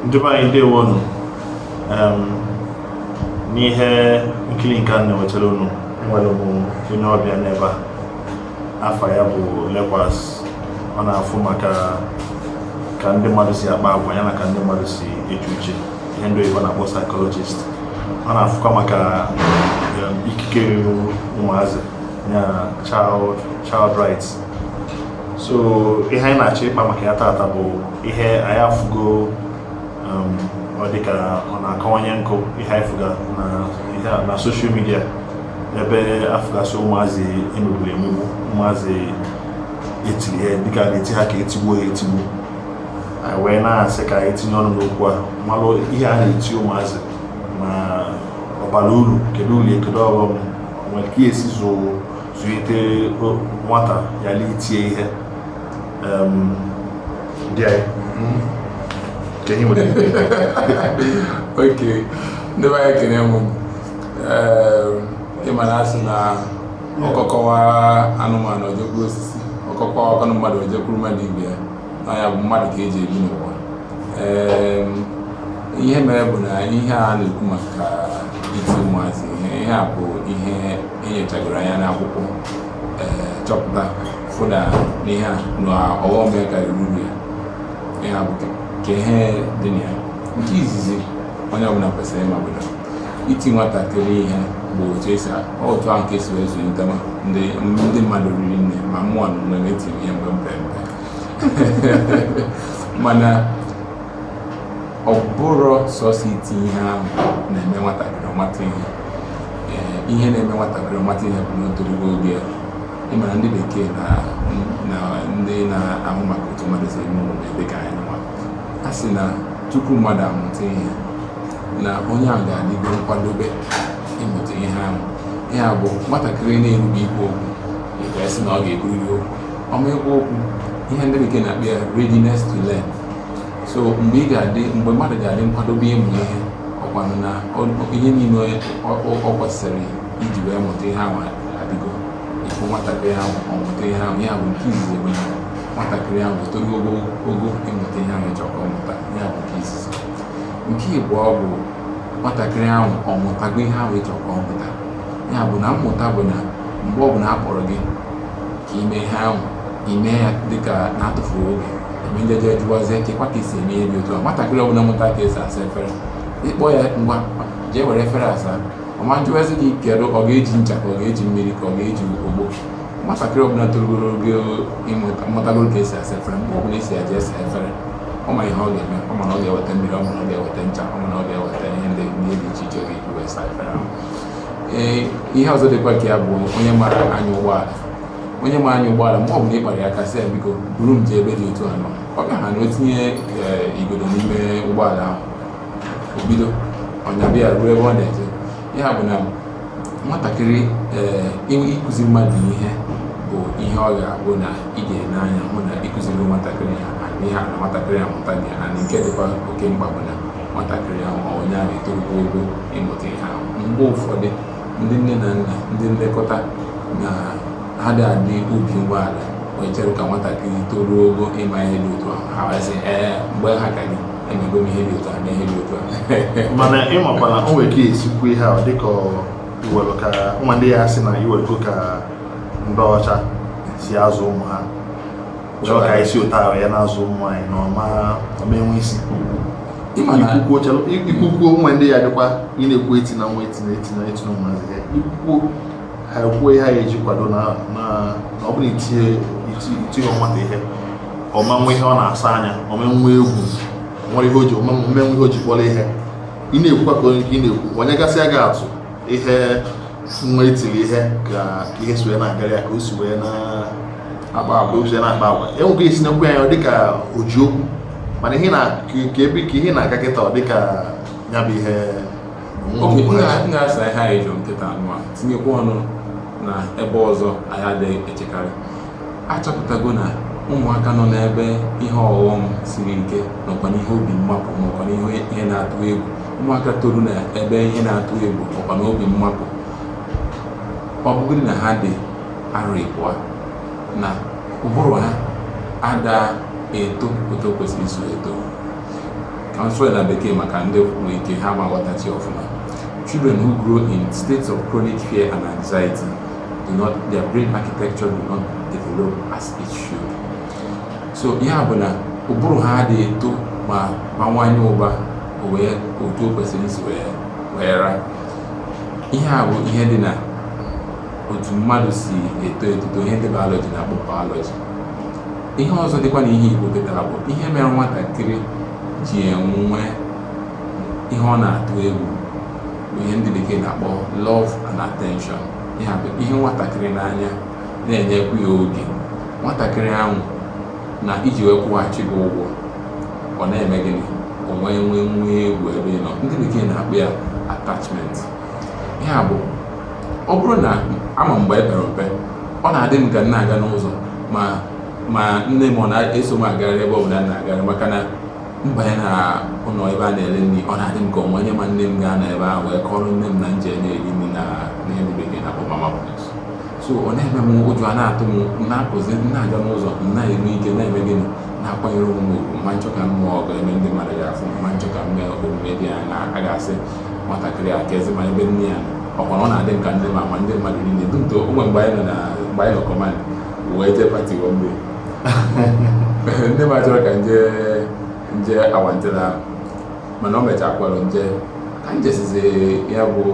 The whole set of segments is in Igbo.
ndị be anyị ndewonu n'ihe nkiri nke a na-ewetara unu enwere m onye ọbịa n'ebe a afa ya bụ Lekwas ọ na-afụ maka ka ndị mmadụ si akpa agwa ya na ka ndị mmadụ si eche uche ihe ndị oyibo na-akpọ psychologist ọ na-afụkwa maka ikike ruru ụmụazị ya child rights so ihe anyị na-achọ ịkpa maka ya tata bụ ihe anyị afụgo um, ọ dịka ọ na-akọwanye nkụ ihe anyị fụga na social media ebe afụgasị ụmụazị emegburu emegbu ụmụazị etiri ihe dịka na-eti ha ka etigbuo ha etigbu anyị wee na-asị ka anyị tinye ọnụ n'okwu a malụ ihe a na-eti ụmụazị ma ọ bara uru kedu uru kedu ọghọm o nwere ka esi zụo zụlite nwata ghara itie ihe ndị anyị okay ndị be anyị ekene m ịma na asị na ọkọ kọwa anụmanụ o jekwuru osisi ọkọ kọọ kwanụ mmadụ o jekwuru mmadụ ibe ya na ya bụ mmadụ ka eji ebi n'ụwa ihe mere bụ na ihe a na-ekwu maka iti ụmụazị ihe a bụ ihe enyochagoro anya n'akwụkwọ eh, chọpụta fụ na ihe a na ọghọm ya karịrị uru ya ya bụ ka ihe dị na ya nke izizi onye ọbụla kwesịrị ịma bụ na iti nwatakịrị ihe bụ otu esi otu ahụ ka esi wee zụlite ma ndị ndị mmadụ riri nne ma mụ na onwe m etiri m ihe mgbe m pe mpe mana ọ bụrọ sọsọ iti ihe ahụ na-eme nwatakịrị ọ mata ihe ihe na-eme nwatakịrị ọ mata ihe bụ na o torugo oge ya ịmara ndị bekee na ndị na-ahụ maka otu mmadụ si eme omume dị ka anyị nwa a sị na tupu mmadụ amụta ihe na onye ahụ ga-adịgo nkwadobe ịmụta ihe ahụ ya bụ nwatakịrị na-erube ikwu okwu nke sị na ọ ga-ekwuriri okwu ọ ma ekwu okwu ihe ndị bekee na-akpọ ya readiness to learn so mgbe ị ga-adị mgbe mmadụ ga-adị nkwadobe ịmụ ihe ọ kwanụ na ihe niile ọ kwesịrị iji wee mụta ihe ahụ adịgo ị fụ nwatakịrị ahụ ọ mụta ihe ahụ ya bụ nke izizi bụ na nwatakịrị ahụ torugo ogo ịmụta ihe ahụ ị chọ ka ọ mụta ya bụ nke izizi nke ibụọ bụ nwatakịrị ahụ ọ mụtago ihe ahụ ị chọ ka ọ mụta ya bụ na mmụta bụ na mgbe ọ bụla a kpọrọ gị ka i mee ihe ahụ i mee ya dịka na-atụfughị oge mgbe ndị jee jụwazie kekwa ka esi eme ihe dị otu a nwatakịrị ọbụla mụta ka esi asa efere ị kpọọ ya ngwa jee were efere saa ọ ma jụwazi gị kedu ọ ga-eji ncha ka ọ ga-eji mmiri ka ọ ga-eji ogbo nwatakịrị ọbụla torugoro ogo mụtagoro ka esi asa efere mgbe ọbụla a sị ya jee saa efere ọ ma ihe ọ ga-eme ọ ma na ọ ga-eweta mmiri ọ ma na ọ ga-eweta ncha ọ ma na ọ ga-eweta ihe ndị ihe dị iche iche ọ ga-eji wee saa efere ahụ ee ihe ọzọ dịkwa ka ya bụ onye mara anya ụgbọala onye ma anya ụgbọala mgbe ọbụla ị kpara ya aka sị ya biko buru m jee ebe dị otu a na ọ ga ha na o tinye eh, igodo n'ime ụgbọala ahụ o bido nyaba ya ruo ebe ọ na-eje ya bụ na nwatakịrị ee eh, ịkụzi mmadụ ihe bụ ihe ọ ga-abụ na ị ga-ene anya hụ na ị kụziri nwatakịrị a ihe a na nwatakịrị a amụtago na nke dịkwa oke mkpa bụ na nwatakịrị ahụ ma onye ahụ etorugo ogo ịmụta ihe ahụ mgbe ụfọdụ ndị nne na nna ndị nlekọta na ha ada adị obi umeala wee chere ka nwatakịrị toruo ogo ịma ihe dị otu ahụ ha asị ee mgbe m ha ka gị emego m ihe dị otu a na ihe dị otu a mana ị makwana o nwere ka esi ekwu ihe ọ dịka i were ka nwa ndị a asị na i werego ka ndị ọcha si azụ ụmụ ha chọọ ka e si otu ahụ ya na-azụ ụmụ anyị na ọ ma ọ ma enwe isi Ịma na- i kwukwuo o chere i kwukwuo o nwee ndị a dịkwa ị na-ekwu etina nwa etina etina etina ụmụazị ihe i kwukwuo ha ekwuo ihe ha ga-eji kwado na na na ọ bụrụ i tighị iti- i tighị nwata ihe ọ ma enwe ihe ọ na-asọ anya ọ ma enwe egwu nwere ihe o ji ọ ma enwe ihe o ji kpọrọ ihe ị na-ekwukwa ka onye ka ị na-ekwu o nyegasịa gị atụ ihe nwa etiri ihe ka ihe si wee na-agara ya ka o si wee na-akpa agwa o si wee na-akpa agwa e nwee ka esi na-ekwu ya ọ dịka o ji okwu mana ihe na ka ebe ka ihe na-aga kịta ọ dịka ya bụ ihe m ga-asa ihe anyị jụrụ kịta anyị tinyekwa ọnụ na ebe ọzọ anyị adịghị echekarị achọpụtago na ụmụaka nọ n'ebe ihe ọghọm siri ike nọkwa n'ihe obi mmapụ nọkwa n'ihe ihe na-atụ egwu ụmụaka toru na ebe ihe na-atụ egwu nọkwa na obi mmapụ ọ bụgodị na ha dị arọ ịbụọ na ụbụrụ ha ada eto otu o kwesịrị isi eto ka m sụọ ya na bekee maka ndị nwere ike ha ma ghọtacha ọfụma children who grow in states of chronic fear and anxiety do not their brain architecture do not develop as it should so ihe a bụ na ụbụrụ ha adịghị eto ma bawanye ụba wee otu o kwesịrị isi wee wee ra ihe a bụ ihe dị na otu mmadụ si eto etuto ihe ndị biology na-akpọ biology ihe ọzọ dịkwa na ihe i kwupụtara bụ ihe mere nwatakịrị ji enwe ihe ọ na-atụ egwu ihe ndị bekee na-akpọ love and attention ihe a bụ ịhụ nwatakịrị n'anya na-enyekwu ya oge nwatakịrị ahụ na iji wee kwụghachi gị ụgwọ ọ na-eme gịnị o nwee nwe nwe egwu ebe ị nọ ndị bekee na-akpọ ya attachment ihe a bụ ọ bụrụ na ama m mgbe e pere mpe ọ na-adị m ka m na-aga n'ụzọ ma ma nne m ọ na-eso m agagharị ebe ọ bụla m na-agagharị maka na m banye na ụlọ ebe a na-ere nri ọ na-adị m ka o nwe onye ma nne m ga-anọ ebe ahụ wee kọrọ nne m na nje ji na-eri nri na ihe ndị bekee na-akpọ mama put so ọ na-eme m ụjọ a na-atụ m na-apụzi na-aga n'ụzọ na-enwe ike na-eme gịnị na-akwanyere onwe m ugwu ma m chọ ka m nụọ ọgụ ebe ndị mmadụ ga-afụ ma m chọ ka m mee omume dị anya a ga-asị nwatakịrị a ka ezi ma ebe nne ya ọkwara ọ na-adị m ka ndị ma ma ndị mmadụ niile dum to o nwe mgbe anyị nọ na mgbe anyị nọ command wee jee pati mgbe nne m achọrọ ka m je m je awantịla ahụ mana o mechaa kpọrọ nje ka m jesizi ya bụ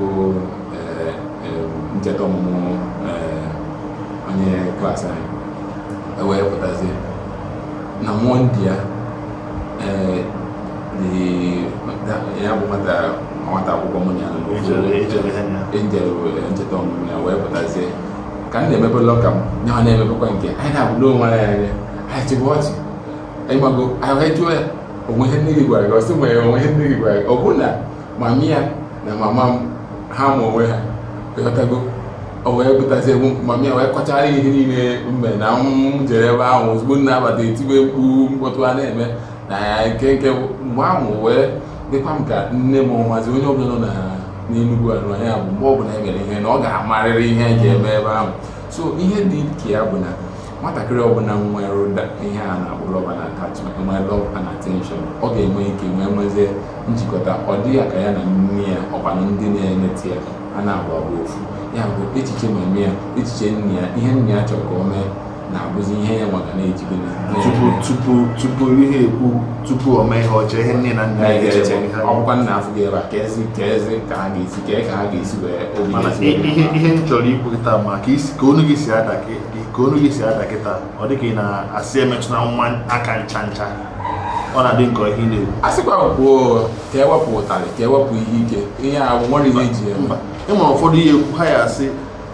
eh, eh, ncheta ọmụmụ eh, onye klaasị anyị e wee pụtazie na mọmị ya eh, the- that- ya bụ nwata nwata akwụkwọ mụ na ya nọ n'ofu Ejere- ejere ha ya. Angel were ncheta ọmụmụ ya wee pụtazie ka m na-emepe lọka m na ọ na-emepekwa nke anyị na-abụdo onwe anyị anya anyị chịpụ ọchị anyị mago anyị jụọ ya o nwe ihe nne gị gwara gị ọ sị nwere o nwe ihe nne gị gwara gị ọ bụ na mama ya na mama m ha ma onwe ha ị ghọtago o wee pụtazie mama ya wee kọchara ihe niile mbe na m jere ebe ahụ ozugbo m na-abata etiwe mkpu mkpọtụ a na-eme na ya nke nke mgbe ahụ wee dịkwa m ka nne m ọ mazi onye ọbụla nọ n'enugwu anụ anya bụ mgbe ọbụla e mere ihe na ọ ga-amarịrị ihe e ji eme ebe ahụ so ihe dị ka ya bụ na nwatakịrị ọbụla nwere ụdị ihe a na-akpọ love and attachment nwee love and attention ọ ga-enwe ike nwee nwezie njikọta ọ dị ya ka ya na nne ya ọkwanụ ndị na-enete ya a na-abụ ofu ya bụ echiche mami ya echiche nne ya ihe nne ya chọrọ ka o mee na-abụzi ihe ya nwa ka na-ejibe tupu tupu tupu ihe ekwu tupu o mee ihe o chee ihe nne na nna ya ga-eche ọkwa nna afụ gị ebe a ka ezi ka ezi ka a ga-esi ka ka a ga-esi wee obi mana ihe ihe m chọrọ ikwu kịta ma ka isi ka onu gị si ada ka onu gị si ada kịta ọ dị ka ị na-asị emetụna nwa aka ncha ncha ọ na-adị m ka ihe na-ekwu a sịkwa kwuo ka e wepụ ụtarị ka e wepụ ihe ike ihe a nwere ihe eji ya mba e nwere ụfọdụ ihe ekwu ha ya asị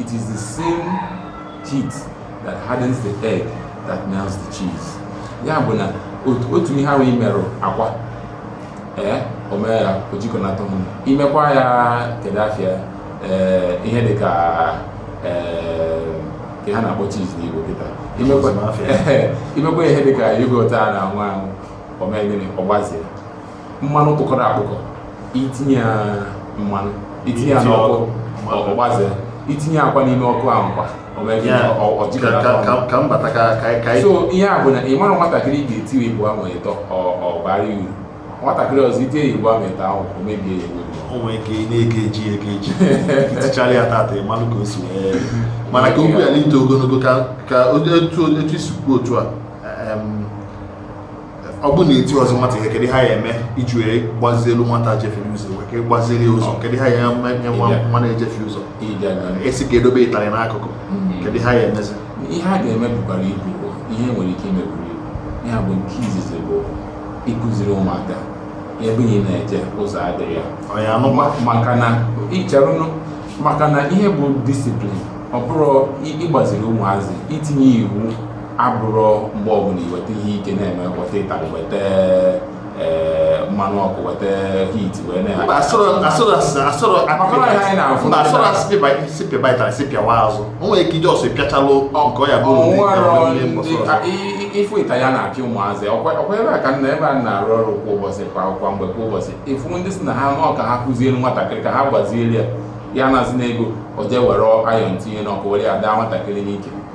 It is the same heat that hardens the egg that melts the cheese. ya bụ na otu ihe ahụ i merụ akwa ee eh, o mee ya o jikọnata ahụ i mekwa ya kedu afa ya ee eh, ihe dị ka ee eh, ka ha na-akpọ cheese n'igbo kịta i mekwa ihe dị ka yogurt a na-anwụ anwụ o mee gịnị ọ gbazie mmanụ kpụkọrọ akpụkọ itinye ya mmanụ itinye ya n'ọkụ ọ gbazee itinye akwa n'ime ọkụ ahụ kwa so ihe a bụ na ị mara nwatakịrị ị ga-eti igbo ahụ ịtọ ọ baara uru nwatakịrị ọzọ i tie igbo ahụ ịtọ ahụ o mebie ya o nwere ike na-eke eji eke eji itichara ya tata ị manụ ka o si wee mana ka okwu ya n'ite ogologo ka otu i si kwuo otu a ọ bụ na etirozi nwata ihe kedu ihe a ya-eme iji wee gbazielu nwata jefiere ụzọ wee ka gbaziri ya ụzọ kedu ihe a ya-eme nye nwa Ịbịa. nwa na-ejefie ụzọ ebe a na-asị ka e dobe ịtarị n'akụkụ Mhm. kedu ihe a ya-emezi ihe a ga-eme bukwara ibu bụ ihe e nwere ike ime buru ibu ihe a bụ nke izizi bụ ịkụziri ụmụaka ebe ị na-eje ụzọ adịghị ya ọ ya anụkwa maka na ịcharụnụ maka na ihe bụ disiplin ọ bụrụ ị- ịgbaziri ụmụazị itinye iwu abụrọ mgbe ọbụla i weta ihe ike na-eme weta ịtarị weta eh, mmanụ ọkụ weta heat wee na asịrọ sị pịaba ịtarị sị pịawa azụ o nwere ike ije ọsọ ịpịachalụ nke ọ ya bụ ị fụ ịtarị a na-apịa ụmụazị ọkwa ebe a ka nna ebe a na-arụ ọrụ kwa ụbọchị kwa kwa mgbe kwa ụbọchị ị fụ ndị sị na ha nọ ka ha kụziere nwatakịrị ka ha gbaziere ya ya anazina ego o jee were ayọn tinye n'ọkụ were ya daa nwatakịrị n'ike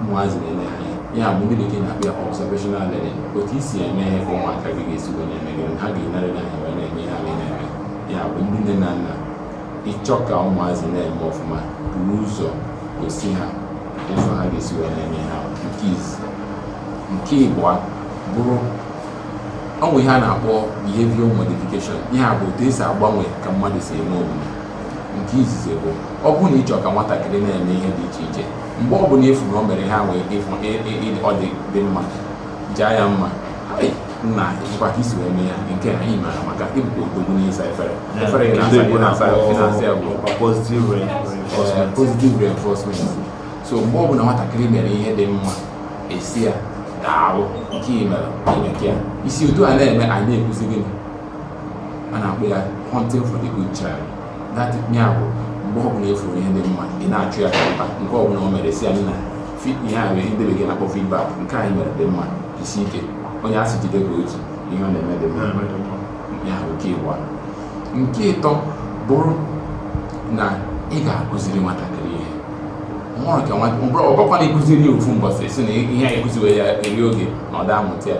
ụmụazị na-ene ha anya ya bụ ndị bekee na-akpọ ya observational learning otu i si eme ihe ka ụmụaka gị ga-esi wee na-eme gị ha ga-enere gị anya wee na-eme ihe ha na-eme ya bụ ndị nne na nna ị chọọ ka ụmụazị na-eme ọfụma buru ụzọ gosi ha ụzọ ha ga-esi wee na-eme ihe a nke izizi nke ịbụa bụrụ o nwere ihe a na-akpọ behavioral modification ihe a bụ otu e si agbanwe ka mmadụ si eme omume nke izizi bụ ọ bụrụ na ị chọọ ka nwatakịrị na-eme ihe dị iche iche mgbe ọ bụla ị fụ na o mere ihe ahụ ọ dị mma jaa ya mma nna nekwa ka i si wee mee ya nke a i mere amaka ị bụkwa odogwu n'ịsa efere efere ị na-asa ị na-asa ị na-asa ya bụ positive reinforcement so mgbe ọ bụla nwatakịrị mere ihe dị mma ị sị ya daalụ nke ị mere i meka ya i si otu a na-eme anyị na-ekwuzi gịnị a na-akpọ ya hunting for the good child ya bụ mgbe ọbụla ị fụrụ ihe dị mma ị na-achụ ya ka mba nke ọbụla o mere sị ya nna ihe a bụ ihe ndị bekee na-akpọ feedback nke a i mere dị mma jisie ike onye a sị jide ka o ji ihe ọ na-eme dị mma ya bụ nke ịbụa nke ịtọ bụrụ na ị ga-akụziri nwatakịrị ihe ọhụrụ ka nwa ọ bụkwana ị kụziri ya ofu mbọsị sị na ihe anyị kụziwe ya eri oge na ọ daa amụta ya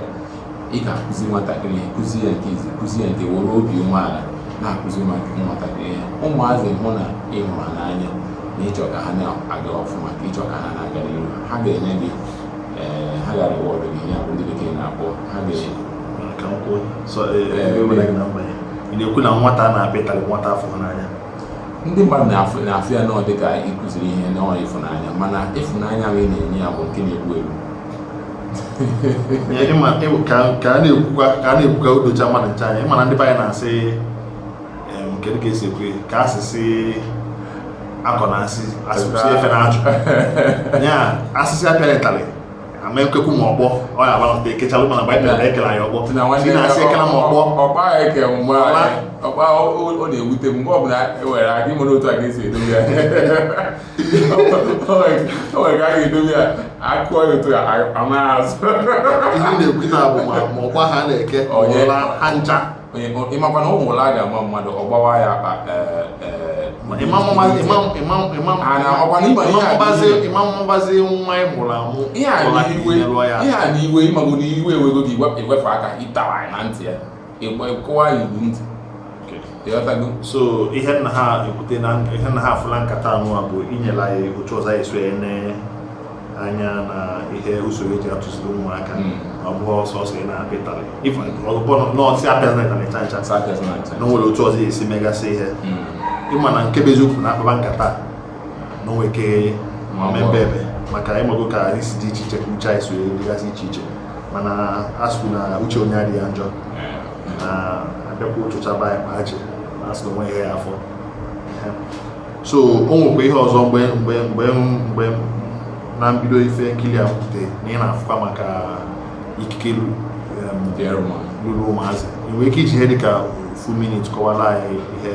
ị ga-akụziri nwatakịrị ihe kụzi ya nke izizi kụzi ya nke were obi umeala na-akụziri nwatakịrị ihe ụmụazị hụ na ị hụrụ n'anya na ị chọ ka ha na-aga ọfụma ka ị chọ ka ha na-aga n'ihu ha ga-enye gị eh, ha ga-areward gị ya bụ ndị bekee na-akpọ ha ga-enye ị na-ekwu na nwata na-apị ịtarị nwata afọ n'anya ndị mmadụ na-afụ ya na ọ dịka ịkụziri ihe na ọ ịfụnanya mana ịfụnanya ahụ ị na-enye ya bụ nke na-egbu egbu ka a na-ekwukwa ka a na-ekwukwa o docha mmadụ ncha anya ị ma na ndị be anyị na-asị kedu ka esi ekwe ka asịsị akọ na asị asịsị efe na ajụ ya asịsị apịara ịtalị ama ekwekwu ma ọkpọ ọ ya abalata ekechalụ mana baịbụl na ekele anyị ọkpọ si na asị ekela ma ọkpọ ọkpa eke mgbe ọkpa ọ na-ewute m mgbe ọ bụla ewere aga ịmụrụ otu a ga-esi edobe ya o nwere ka a ga-edobe ya akụọ ya otu anaghị azụ ihe na-ekwute bụ ma ọkpa ha na-eke ha ncha ị makwa na ụmụ ụla a ga-ama mmadụ ọ gbawa ya akpa ị mabazi nwa ị mụrụ amụ ihe a n'iwe ị mago na iwe ewego gị i wefe aka ịtawa na ntị ya ịgba ịkụwa ya ịgba ntị ị ghọtago so ihe m na-ekwute na ihe m na-afụ na nkata anụwa bụ inyela ya otu ọzọ anyị si wee ne anya na ihe usoro eji atụziri ụmụaka Mm. ọ bụghị sọsọ ị na-apị ịtarị ọ bụghị na a sị apịazịna na ncha ncha Sa apịa sị na ncha. na o nwere otu ọzọ a ga-esi megasị ihe Mm. ị ma na nke bụ eziokwu na a kpaba nkata na o nwee ike Ma ọ bụ- mebe ebe maka ị mago ka anyị si dị iche iche ka uche anyị si wee dịgasị iche iche mana a sịkwu na uche onye adịghị ya njọ na abịakwa ụtụcha be anyị ma ha ji na asị na o nwe ihe ya afọ so o nwekwa ihe ọzọ mgbe na mbido ife nkiri a pụte na anyị na-afụkwa maka ikike luru ụmụazị i nwere ike iji ihe dịka ofu minit kọwara anyị ihe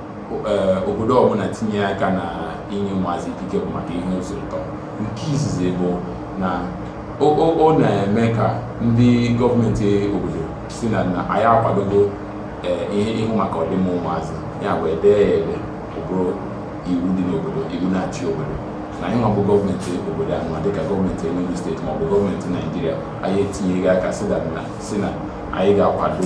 eh, obodo ọbụla tinye aka na inye ụmụazị ikike bụ maka ihe ụzọ ịtọ nke izizi bụ na ọ na-eme ka ndị gọọmenti obodo sị na na anyị akwadogo eh, ihe ịhụ maka ọdịmma ụmụazị ya bụ edee ya ede bụrụ iwu dị n'obodo iwu na-achị obodo na anyị nwa bụ gọọmenti obodo anụwa dịka gọọmenti Enugu steeti maọbụ gọọmenti Naijiria anyị etinyego aka sị na anyị ga-akwado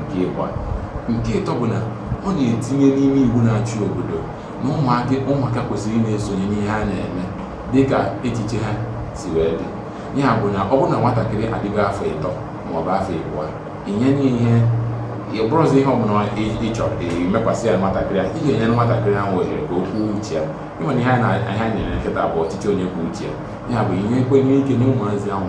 nke ịbụa nke ịtọ bụ na ọ na-etinye n'ime iwu na-achị obodo na ụmụaka ụmụaka kwesịrị ị na-esonye n'ihe a na-eme dịka echiche ha si wee dị ya bụ na ọ bụrụ na nwatakịrị adịgo afọ ịtọ maọbụ afọ ịbụọ inye n'ihe ọ bụrụzi ihe ọbụla ị chọrọ imekwasị ya nwatakịrị ahụ ị ga-enyere nwatakịrị ahụ ohere ka o kwuo uche ya e nwere ihe anyị na-ekwute bụ ọchịchị onye kwuo uche ya ya bụ ihe ekwenye ike na ụmụazị ahụ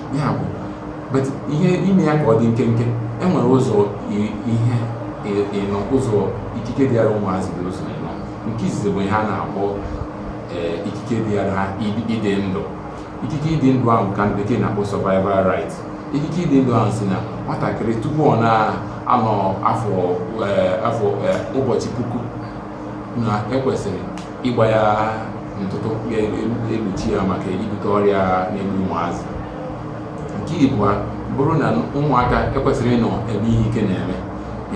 ya bụ but ihe ime ya ka ọ dị nkenke e nwere ụzọ ihe ịnọ ụzọ ikike dịara ụmụazị dị ụzọ ịnọ nke izizi bụ ihe a na-akpọ eh, ikike dịara ịdị ndụ ikike ịdị ndụ ahụ ka ndị bekee na-akpọ survival right ikike ịdị ndụ ahụ sị na nwatakịrị tupu ọ na-anọ afọ eh, afọ eh, ụbọchị puku na e kwesịrị ịgba ya ntụtụ ga-egbochi ya maka ibute ọrịa na-egbu ụmụazị nke ịbụa bụrụ na ụmụaka ekwesịrọ ịnọ ebe ihe ike na-eme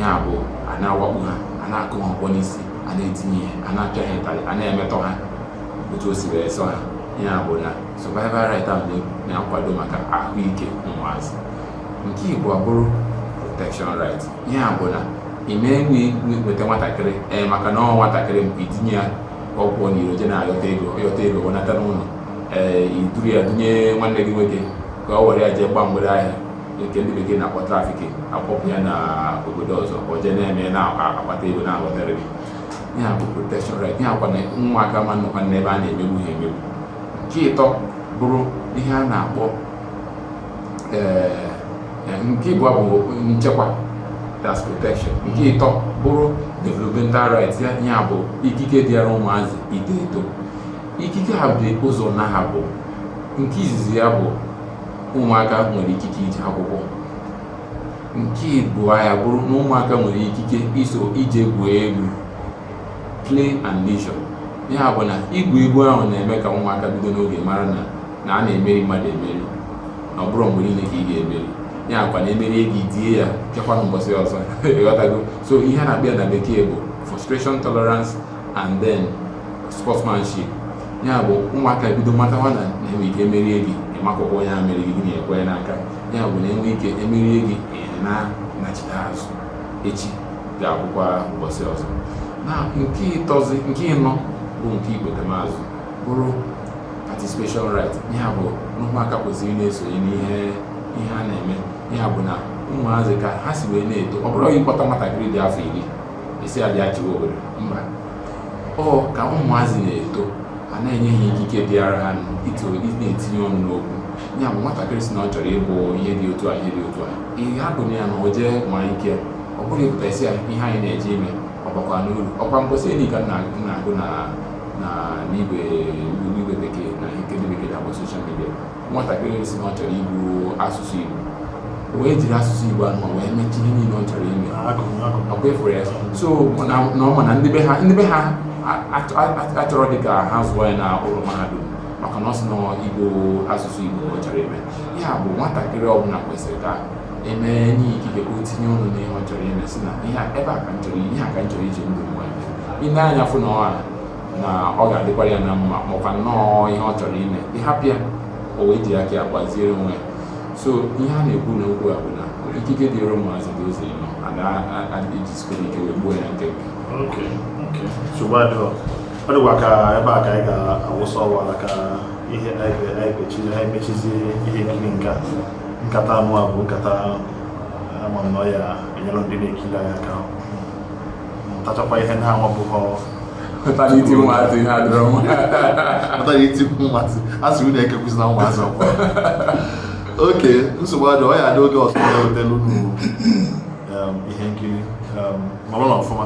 ya bụ a na-awakpo ha a na-akụ ha ọkpọ n'isi a na-eti ha ihe a na-apịa ha ịtarị a na-emetọ ha otu o si wee sọ ha ya bụ na survival right ahụ na-akwado maka ahụike ụmụazị nke ịbụa bụrụ protection right ya bụ na ị na-enwe nweta nwatakịrị ee maka na ọ nwatakịrị mgbe i tinye ya ọ pụọ n'iro je na-ayọta ego ọ yọta ego wenata n'ụlọ ee i duru ya dunye nwanne gị nwoke ka ọ were ya jee gba mgbere ahịa nke ndị bekee na-akpọ trafficking a kpọpụ ya n'obodo ọzọ ka o jee na-eme na-akpata ego na-ewotara gị ya bụ protection right ya kwa na ụmụaka ama anọkwa n'ebe a na-emegbu ha emegbu nke ịtọ bụrụ ihe a na-akpọ nke ịbụa bụ nchekwa that's protection nke ịtọ bụrụ developmental rights ya ya bụ ikike dịara ụmụazị ito eto ikike a dị ụzọ naabọ nke izizi ya bụ ụmụaka nwere ikike ije akwụkwọ nke ịbụa ya bụrụ na ụmụaka nwere ikike iso ije gwuo egwu play and leisure ya bụ na igwu egwu ahụ na-eme ka ụmụaka bido n'oge mara na na a na-emeri mmadụ emeri na ọ bụrọ mgbe niile ka ị ga-emeri ya kwa na e merie gị die ya chekwa mbọsị ọzọ ị ghọtago so ihe a na-akpọ na bekee bụ frustration tolerance and then sportsmanship ya bụ ụmụaka bido matawa na e nwe ike emerie gị ị makụkwa onye a meriri gị gị na ya ekwe n'aka ya bụ na e nwe ike emerie gị na-anachite azụ echi ga-abụkwa ụbọchị ọzọ na nke ịtọzi nke ịnọ bụ nke ikpetemazụ bụrụ participation right ya bụ ụmụaka kwesịrị ịna-esonye n'ihe ihe a na-eme ya bụ na ụmụazị ka ha si wee na-eto ọ bụrọ ịkpọta nwatakịrị dị afọ iri a sị ya bịa chịwa obodo mba ọ ka ụmụazị na-eto a na-enye ha ikike dịara ha ịna-etinye ọnụ n'okwu ya bụ nwatakịrị sị na ọ chọrọ ịbụ ihe dị otu a ihe dị otu a ị hapụ ya na o jee nwaa ike ọ bụrọ ị pụta ị sị ya ihe anyị na-eje ime ọ bakwanụ uru ọ kwa mposi eni ka na-agụ na na n'igwe n'igwe bekee na nke ndị bekee na-akpọ social media nwatakịrị si na ọ chọrọ ịgụ asụsụ Igbo wee jiri asụsụ Igbo ahụ wee mechie ihe niile ọ chọrọ ime ọkwa ị fụrụ ya so na ọ ma na ndị be ha ndị be ha achọrọ dị ka ha zụọ ya na ụlọ mahadum maka na ọ sị na Igbo asụsụ Igbo ọ chọrọ ime ya bụ nwatakịrị ọbụla kwesịrị ka eme enye ya ikike ka o tinye ọnụ n'ihe ọ chọrọ ime si na ihe a- ebe a ka m chọrọ ihe a ka m chọrọ iji ndụ m wee mee. i nee anya fụ na ọ ghara na ọ ga-adịkwara ya na mma makwa nnọọ ihe ọ chọrọ ime ị hapụ ya o wee ji aka ya gbaziere onwe ya so ihe a na-ekwu n'okwu a bụ na ikike dịrị ụmụazị dị ụzọ ịnọ e jizikwa ike wee gbuo ya nkenke Okay, okay. nsogbu adịghị ọ dịkwa ka ebe a ka anyị ga-awụsa ọwa ka ihe anyị ga- anyị ga-echi- anyị mechizie ihe nkiri nke a nkata anụ a bụ nkata ama m na ọ ya-enyere ndị na-ekiri anyị aka mụtachakwa ihe ha na-amabughọ pụtara iti ụmụazị ihe adịrọ mma pụtara iti ụmụazị a sị unu ekekwuzi na ụmụazị ọkwa okay nsogbu adị ọ ya-adị oge ọzọ na-ewetelu unu um, ihe nkiri um, nọlụnụ ọfụma